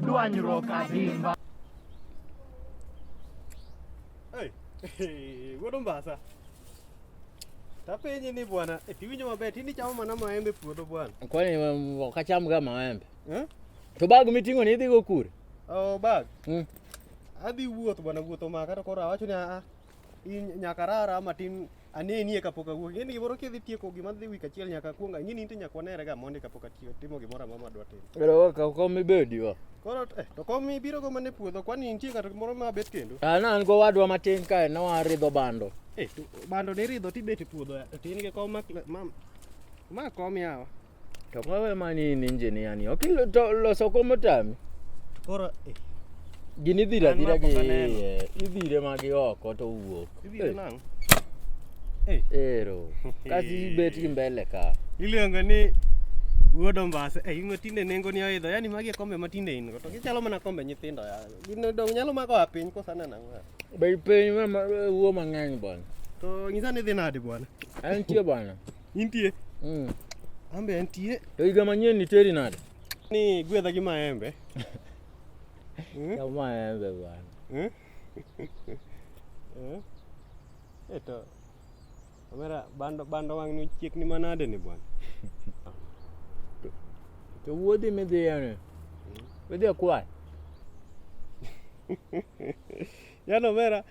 dwanyruok adimba. Hey, hey, wuod Ombasa. Tapenyi ni bwana, eh, tiwinjo maber, tini chamo mana maembe puodho bwana. Kwani um, ok achamga maembe? Eh? To bag miting'o ni idhigo kure? Oh, bag. Mm. Adhi wuoth bwana, wuoth omaka to koro awacho ni a ah, ah, I nyaka rara matin anenie kapok awuok. Ing'e ni gimoro kidhi tieko gima dhi wik achiel nyaka kuong ing'e ni inti nyaka wanere ga mondi kapok atiyo timo gimoro amora madwa timo. Ero ka kom ibedi wa. Koro eh, to kom ibiro go mana e puodho kwani nitie ng'ato moro ma bet kendo. Ah na an go wadwa matin kae ne waridho bando. Eh, to bando ni ridho tibet e puodho eh, to in gi kom ma ma kom yawa. To kawe manini engineer ni ok loso kom otami. Koro eh. Gini dhira dhira gi eh, idhire magi oko to wuok. Idhire eh. nang'. Eh. Ero. Kasi bet gi mbele ka. Iluongo ni wuod ombasa eh, in matinde nengo ni oidho yani magi e kombe matinde in go to gichalo mana kombe nyithindo ya gin dong nyalo mako a piny kosana nang'o be piny ma wuo mang'eny bwana to nyisa ni dhi nadi bwana en tie bwana Intie? Mm. Ambe entie. To higa manyien niteri nade? Ni gwedha gi maembe. Hmm? Ya maembe bwana. Hmm? Eh? Eto. Omera bando bando wang' ni chiek ni manade ni bwana. To wuodhi midhi yani. Hmm? Midhi kwayo. Yano omera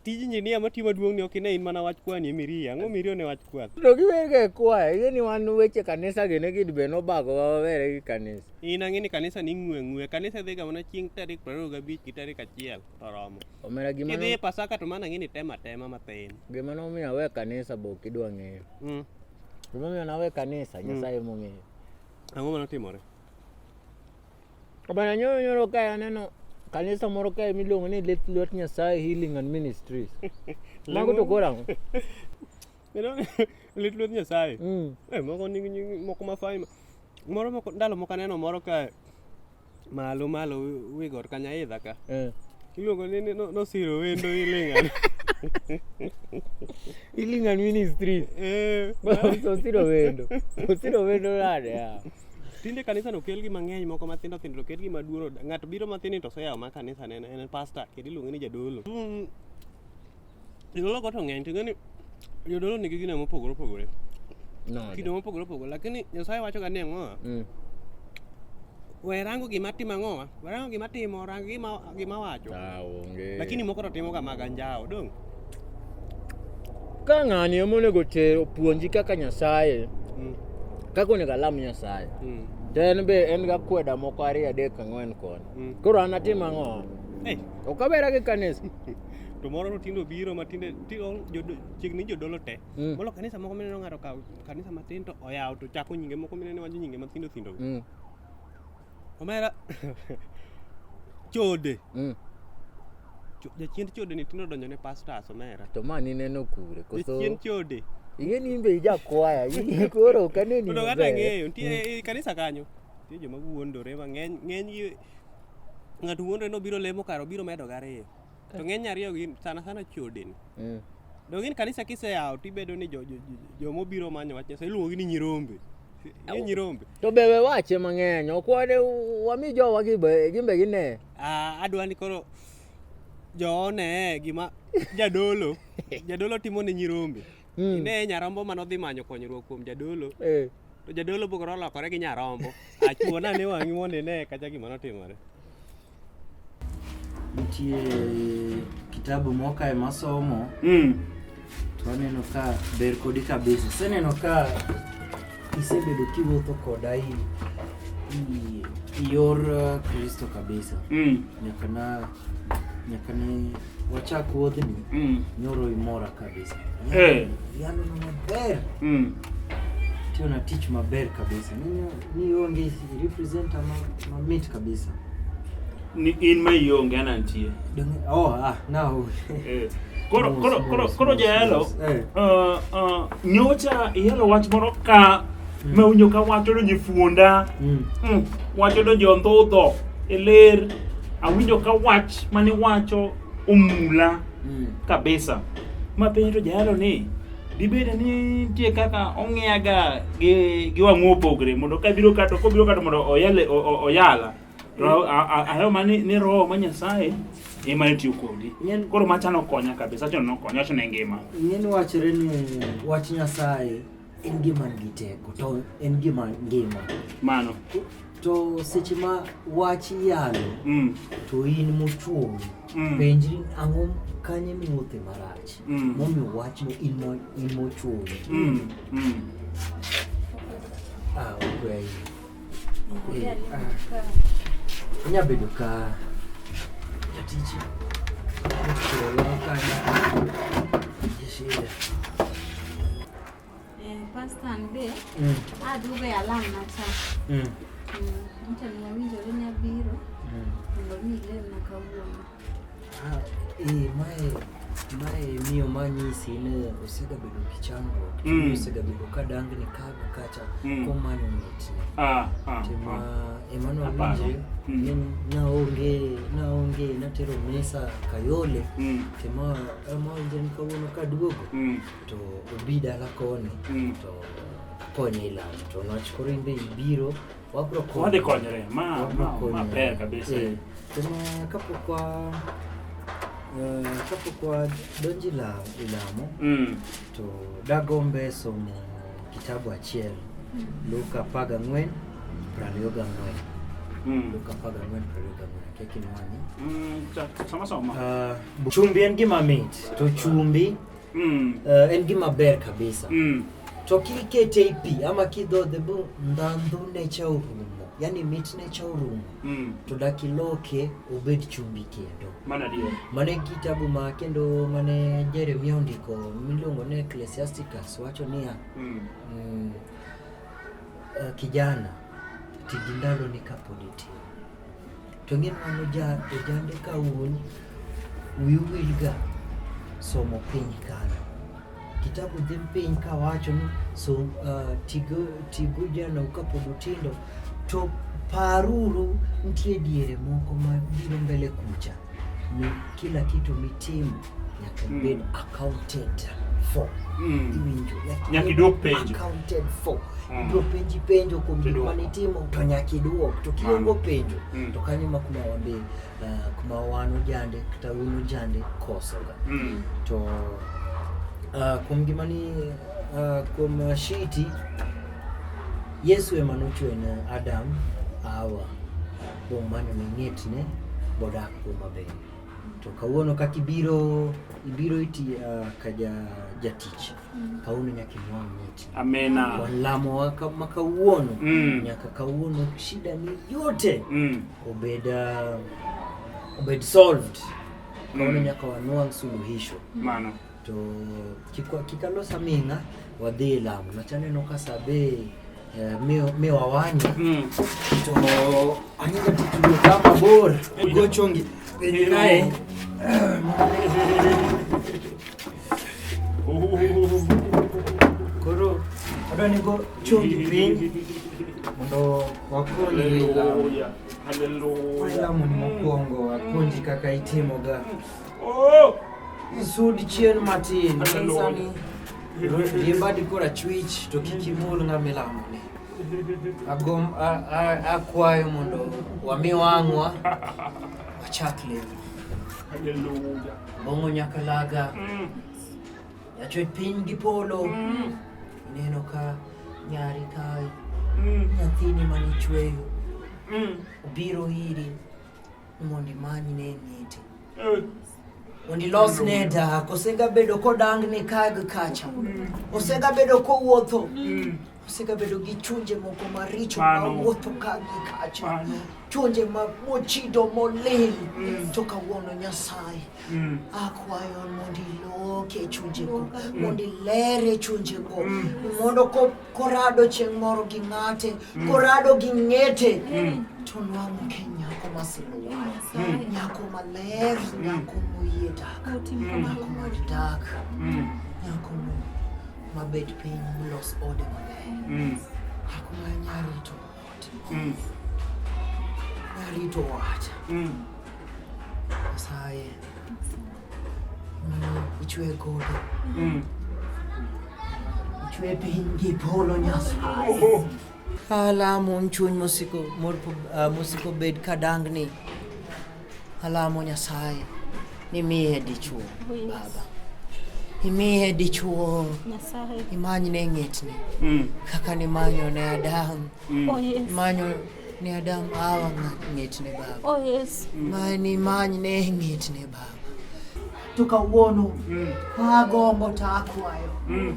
tij injinia ma tiyo maduong' ni ok ine in mana wach kwani emiriyo ang'o miriyo ne wach kwath to giwerga e kwaya ing'e ni wan weche kanisa gi ne gid be nobago wawere gi kanisa in ang'e ni kanisa ni ng'we ng'we kanisa dhiga mana chieng' tarik prariyo gabich gi tarik achiel to romo omera gima idhi e pasaka to mana ang'e ni tema tema mathin gima nomiyo awe kanisa be ok idwa ng'eyo mm. gimomiyo nawe kanisa mm. nyasaye mm. mong'eyo ang'o manotimore Bana nyoro nyoro kae aneno kanisa moro kae miluongo ni Let Lwet Nyasaye Healing and Ministries. Mago to koro ang'o? Let Lwet Nyasaye. Mm. Eh, moko nigi nying moko mafai. Moro moko ndalo moko aneno moro kae malo malo wi got ka nyaidha ka. Eh. Iluongo ni ni- no- nosiro wendo ilingan. Healing and Ministries. Eh. Osiro wendo. Osiro wendo nade? ah? Tinde kanisa no kel gi mang'eny moko matindo tindo kel gi maduoro. Ng'ato biro matini to soyawo ma kanisa ne en pastor kendo iluonge ni jadolo. Mm. Jodolo go to ng'eny to ng'eni jodolo nigi gine mopogore opogore. No. Kido mopogore opogore lakini Nyasaye wacho ga ni ang'o? Mm. We rango gima timo ang'owa. We rango gima timo, rang gima gima wacho. Ah, onge. Lakini moko to timoga mag anjawo, dong'. Ka ng'ani ema onego ter opuonji kaka Nyasaye, Mm, kaka onego alam Nyasaye. mm, To en be en ga kweda moko ariyo adek ang'wen koni. mm. Koro an atim ang'o? Hey, Ok abera gi kanisa. to moro to tinde obiro ma tinde ti- o- jodo- chiegni jodolo te. Mm. Molo kanisa moko mineno ng'ato kawo kanisa matin to oyawo to chako nyinge moko mineno wacho nyinge mathindo thindo. Mm. Omera chode. Mm. Jachiend chode ni tino donjo ne pastors omera. To ma ni neno kure koso. Jachiend chode. Iye ni imbe ija kwaya, iye koro kane ni. Kuno kata ng'eyo, nitie mm. kanisa kanyo. Nitie joma wuondore mang'eny, ng'eny ng'ato wuondore ni obiro lemo kar obiro medo gariyo. to ng'eny ariyo gin sana sana chodeni mm. donge ni kanisa kiseyawo to ibedo ni jomobiro jo, jo, jo manyo wach nyasaye iluongogi ni nyirombe ni nyirombe to be we wache mang'eny okwade wami jowa gimbe gine ah, adwa ni koro joone gima jadolo jadolo timo ne nyirombe mm. ine nyarombo mane odhi manyo konyruok kuom jadolo eh. to jadolo bokoro olokore gi nyarombo achuona ne wang'i mondo ine kacha gima notimore Nitie kitabu moka e masomo mm. to aneno ka ber kodi kabisa. Aseneno ka isebedo kiwuotho koda i yor uh, Kristo kabisa mm. nyaka na nyaka ne Wachak wuodhni mm. nyoro imora kabisa. Eh. Yalo na maber. Mm. Tio na tich maber kabisa. Ni ni onge represent ma, ma meet kabisa. Ni in ma ionge ana nitie. Oh ah now. eh. Koro koro koro koro jayalo. Eh. Uh, uh, nyocha yalo wach moro ka mm. ma unyo ka wacho ni fuonda. Mm. Mm. Wacho ni jondho dho. eler Awinjo ka wach mane wacho omula mm. kabisa. Ma penjo to jalo ni dibede ni nitie kaka ong'iyaga gi, gi wang'o opogre mondo ka biro kato kobiro kato mondo oyale oyala to ahero ma ni, ni roho ma nyasaye ema ne tiyo kodi koro macha nokonya kabisa cho nokonya cho ne ngima ing'eni wachore ni wach nyasaye en gima nigi teko to en gima ngima mano to seche ma wach yalo mm. to in mochuowi mm. penjri ang'o kanye miwuothe marach mm. momiyo wachno in mochuowi mm. mm. ah, okay. okay. Eh, ah. nyabedo ka jatich ochuola kanya Eh, pasta an be mm. aduogo e alam macha mm. mm, mcha ni awinjore ni abiro mondo mi ilemna kawuono ah, eh, mae mae miyo manyisi ne osegabedo gi chandruok mm. osegabedo ka dangni kaga kacha mm. komanyo mitne ah, ah, tima ah. ema nawinje mm. naonge naonge natero mesa kayole mm. tima amawinje ni kawuono kaduogo mm. to obi dala koni mm. to akonye e lamo to nwach koro in be ibiro wabro wadhi konyre ma maber kabisa eh, to ma kapok wa eh, kapok wadonjo e lamo e mm. to dagombe somo kitabu achiel mm. Luka apar gang'wen prariyo gang'wen mm. Luka apar gang'wen prariyo gang'wen akekinwani chumbi en gima mit to chumbi mm. uh, en gima ber kabisa mm. to kikete i pi ama kidhodhe bo ndhandhune cha orumo yani mitne cha orumo mm. to dakiloke obed chumbi kendo mana dio mane kitabu ma kendo mane Jeremia ondiko miluongo ni Ecclesiasticus wacho niya mm. mm, uh, kijana ti gi ndaloni kapod itin To ni mano ojande ka un wiu wilga somo piny kano kitabu dhi piny kawacho ni so, uh, tigo, tigo jana kapod utindo to paruru nitie diere moko ma biro mbele kucha ni kila kitu mitimo nyaka hmm. ibed accounted for hmm. iwinjo nyaka idwok penjo accounted for hmm. ibiro penji penjo kuom gik mane itimo to nyaka idwok to kiongo penjo to kanyo ma kuma wambe eh, kuma wan ojande kata un ojande kosoga to eh, kuom gima ni eh, kuom shiti yesu ema nochwe ne adam awa kuom mano ne ng'etne bodak kuom maber to kawuono kaka ibiro ibiro iti uh, ka ja jatich mm. kawuono nyaka inwang' miti amena walamo ma kawuono mm. nyaka kawuono shida ni yote mm. obed uh, obed solved kawuono mm. nyaka wanwang' suluhisho maana to kikwa kikalo samina wadhi lamu nachane no kasabe eh, miwa mi wawanya hmm. to anyinga titulo kama bor gochongi penye naye koro adwa ni go chongi piny mondo wakonyi lamu lamu ni mokwongo apuonji kaka itimoga mm. Oh! Sud chien matin. Sani riemba dikor achwich to kik imul ng'ama ilamo ni. Agom akwayo mondo wami wang'wa wachak lemo. Hallelujah. Bongo nyaka laga. Mm. Yachwe piny gi polo. Mm. Neno ka nyari kae. Mm. Nyathini manichweyo. Mm. Obiro iri. Mondi manyi ne niti. Eh. Mondi los ne dak, osega bedo kodang ni kag kacha. Osega bedo kowuotho. Mm. Osega bedo gi chunje moko maricho ma wuotho kag kacha. Chunje ma mochido molil. Mm. To kawuono Nyasaye. Mm. Akwayo mondi loke chunje ko. Mondi lere chunje ko. Mondo ko Korado chieng' moro gi ng'ate, mm. korado gi ng'ete, mm. to nwang'o ke nyako maseluwa, mm. nyako maler, nyako moyie dak, nyako mad dak, nyako mabet piny molos ode maler, nyako ma nyarito. Mm. Alitoacha. Mm. Saye. Ichwe godo. Mm. Ichwe pingi polo nyasaye. Oh, oh. Ala mon chuny mosiko mor uh, mosiko bed kadangni. Alamo Nyasaye nimiye dichuo oh, yes. baba imiye dichuo imany ne ng'etni mm. kaka nimanyo ne Adam mm. oh, yes. imanyo ne Adam awa ng'etne baba oh, yes. mm. mani imany ne ng'etne baba to kawuono mm. agombo to akwayo mm.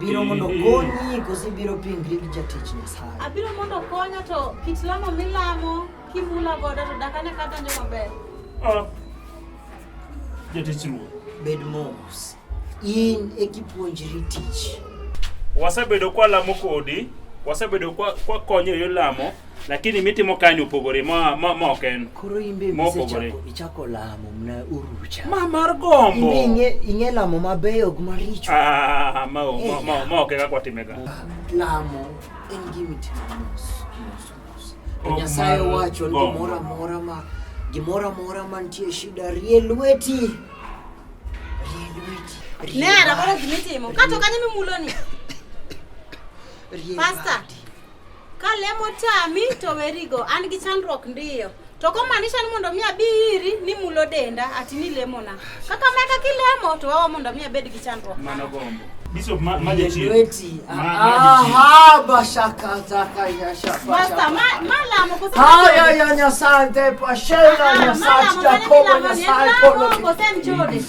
Biro mondo konyi kosi biro pingri gi jatich Nyasaye. Abiro mondo konya to kit lamo milamo kimula godo to dakane kata nyo maber. Ah. Jatich ruoth. Bed mos. In e kipuonjri tich. Wasebedo kwa lamo kodi, wasebedo kwa kwa konyo yo lamo. lakini mitimo kanyo opogore ma ma ma ok en koro imbe mopogore ichako lamo mna urucha ma mar gombo inge inge lamo mabeyo gi maricho ah ma ma ma, ma ok kaka watimega lamo en gima itimo mos mos mos to nyasaye wacho ni gimoro amora ma gimoro amora mantie shida rie lweti rie lweti nera koro gima itimo kato kanye mimuloni pasta Ka lemo tami to werigo, an gi chandruok ndiyo. To komaanisha ni mondo mi abi iri ni mulo denda ati ni lemona. Kaka meka kilemo to wawa mondo mi abed gi chandruok. Mano gombo. Bishop ma ma jachie. Weti. Aha, bashaka zaka ya shaka. Basta ma ma lamo ko. Haya ya nyasaye te pashela nyasaye jakobo nyasaye polo.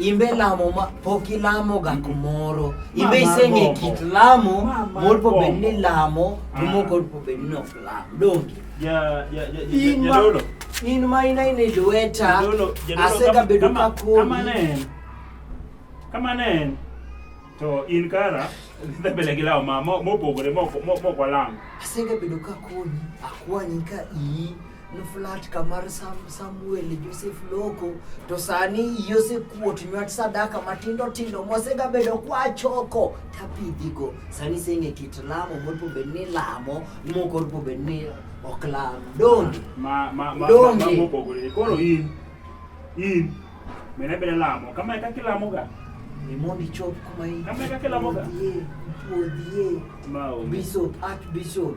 imbe lamo ma pok ilamo ga kumoro imbe iseng'e kit lamo mor po bed ni lamo to ah. moko po bed ni ok lam donge in ma ina in e lweta asegabedo ka kodi kama ne en to in kara dhi mbele gi lawo mopogore mok walam asegabedo ka kodi akwanyi ka iyi nuflat kamar sam, Samuel Joseph Loko to sani yosekuot nywat sadaka matindo tindo mosegabedo kwachoko tapidhigo sani seng'e kit lamo moripo bed ni lamo moko oripo bed ni ok lam donge donge mopogore koro in in mena beda lamo kama e kaka ilamoga ni mondo ichop kuma in kama e kaka ilamoga puodhie puodhie bishop archbishop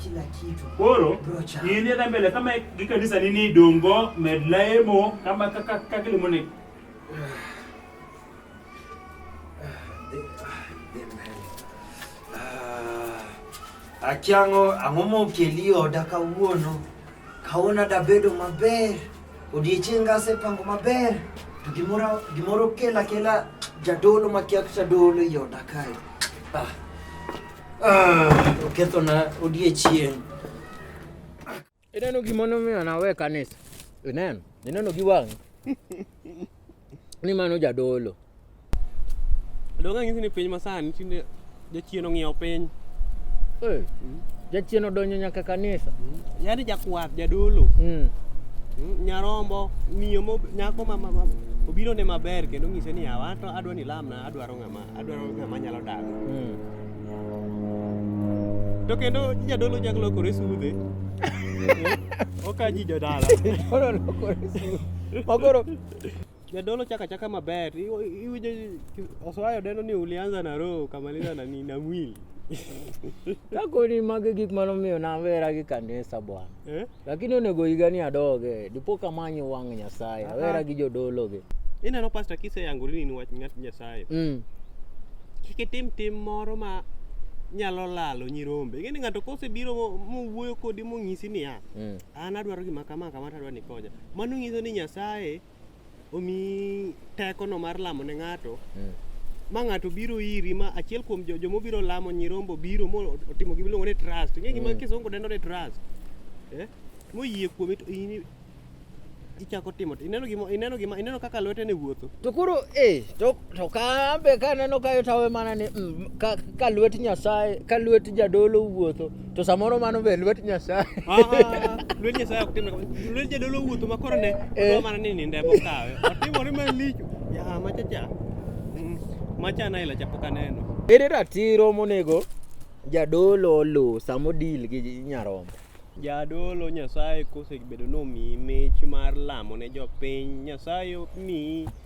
kila kitu. Koro in dhi mbele kama gi kanisa nini dongo med lemo kama kaka kaka lemo ne. Akiango ang'omo keli oda kawuono kaona da bedo maber odiechieng' asepango maber to gimoro gimoro kela kela jadolo makiak jadolo i oda kae ah. Okethona odiechieng'. Ineno gima nomiyo nawe kanisa? Ineno? Ineno gi wang'i? Ni mano jadolo. Donge ang'isi ni piny masani tinde jachien ong'iewo piny. Eh, jachien odonjo nyaka kanisa. Yaani jakwath, jadolo, Mm. mm, nyarombo, miyo mo- nyako ma, ma, ma obiro ne maber kendo ng'ise ni awa to adwa ni lamna adwaro ng'ama adwaro ng'ama nyalo dago mm. to kendo jadolo nyalo lokore sudhe ok aji jodala makoro jadolo chaka chaka maber iwinjo oswayo deno ni ulianza na roho ukamaliza na nini na mwili kakoni magi gik manomiyo nawera gi kanisa bwana eh? Lakini onego higa ni adoge, dipo ka manyo wang' Nyasaye, Aha. awera gi jodologe. Ineno pasta kise yangori ni wach ng'at Nyasaye. Mm. Kik itim tim moro ma nyalo lalo nyirombe. Ing'e ni ng'ato kosebiro mo- mowuoyo kodi monyisi niya, Mm. an adwaro gima kama kama to adwaro ni ikonya. Mano nyiso ni Nyasaye omi tekono mar lamo ne ng'ato mm. ma ng'ato biro iri ma achiel kuom jo joma obiro lamo nyirombo biro mo otimo gima iluongo ni trust ing'e gima mm. kisungu dendo ni trust eh? moyie kuome to in ichako timo ineno gima ineno gima ineno kaka lwete ne wuotho to koro eh to to ka be ka neno kayo tawe mana ni mm, ka, ka lwet nyasaye ka lwet jadolo wuotho To samoro mano be lwet Nyasaye. Lwet Nyasaye ok timre kamano. Lwet jadolo wuotho ma koro ne Eh. odwa mana ni ninde bokawe. Otimore malicho. Ya machacha. Mm, Macha na ila chapok aneno. Ere ratiro monego jadolo oluw sama odil gi nyarombo? Jadolo Nyasaye kosebedo nomiyi mich mar lamo ne jopiny, Nyasaye omiyi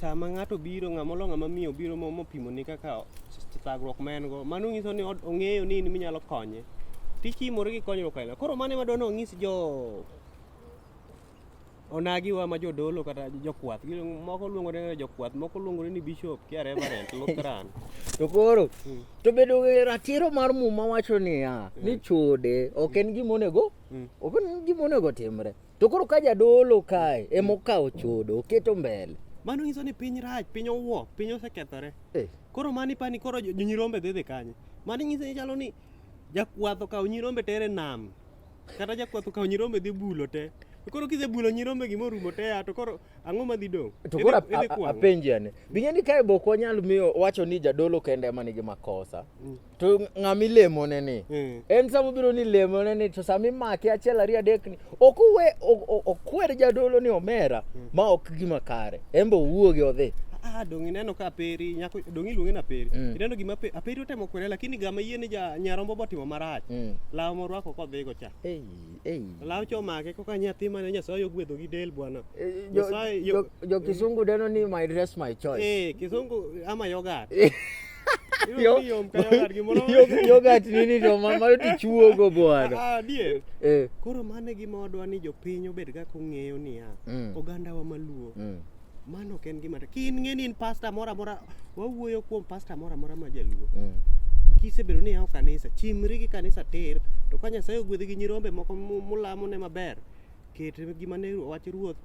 sama ng'ato biro ng'ama olo ng'ama miyo biro mopimo ni kaka thagruok ma en go mano nyiso ni ong'eyo ni in minyalo konye tichimore gi konyruok aila koro mano ema dwani onyis jo onagiwa ma jodolo kata jokwath moko luongo ni jokwath moko luongo ni bishop kia reverend lutheran to koro hmm. to bedo ratiro mar muma wacho niya hmm. ni chode ok en gima onego hmm. ok en gima onego timre To koro ka jadolo kae emokawo chodo oketo mbele. Mano nyiso ni piny rach, piny owuo, piny osekethore. Eh. Koro mani pani koro jo- nyirombe dhi dhi kanye. Mani nyiso ni chalo ni jakwath okawo nyirombe tere nam. Kata jakwath okawo nyirombe dhi bulo te. To koro kisebulo nyirombe gima orumo te ya to koro Ang'o ma dhi dong'? To koro apenji ane. Bing'e ni kae bok wanyal miyo wacho ni jadolo kende ema nigi makosa. Mm. To ng'ama ilemone ni. Mm. En sama obiro ni lemone ni to sama imake achiel ariyo adek ni ok uwe okwer jadolo ni omera mm. ma ok gima kare. En be owuogi odhi. Ah, dong ineno ka aperi nyako dong iluonge na aperi mm. ineno gima pe, aperi otemo kwere lakini gama yie ni ja nyarombo botimo marach mm. lawo morwako kodhigo cha hey. Law chomake kaka nyathi mane Nyasaye ogwedho gi del bwana. Eh, Nyasaye jo, jo kisungu deno ni my dress my choice. Eh, kisungu ama yoga. yogat nini to mano tichuogo bwana ah, adier eh. koro mane gima wadwa ni jopiny obed kaka ong'eyo niya mm. ogandawa maluo mm. Mano ok en gima ki in ng'eni in pasta moro amora wawuoyo kuom pasta moro amora ma jaluo. Mm. Kisebedo ni yawo kanisa, chimri gi kanisa tir to ka Nyasaye ogwedhi gi nyirombe moko mu- mulamo ne maber, ket gima ne wach ruoth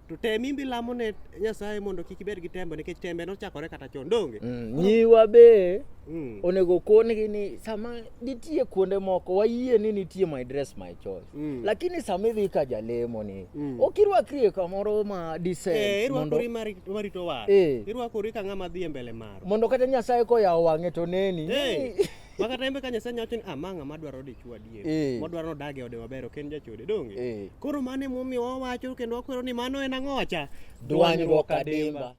to tem imbi lamo ne Nyasaye mondo kik ibed gi tembe nikech tembe nochakore kata chon donge. Mm. Nyiwa be Mm. onego okongi ni sama nitie kuonde moko wayie ni nitie my dress my choice mm. lakini sama idhi ka jalemo ni mm. ok irwakri e kamoro ma decent eh, irwakori marito war eh. irwakori ka ng'ama dhi e mbele mar mondo kata nyasaye koyawo wang'e to neni eh. makata embe ka nyasaye nyawacho ni ama ah, ng'ama dwaro dichwo adier eh. modwaro nodag e ode maber ok en jachode donge eh. koro mano emomiyo wawacho kendo wakwero ni mano en ang'owacha dwanyruok adimba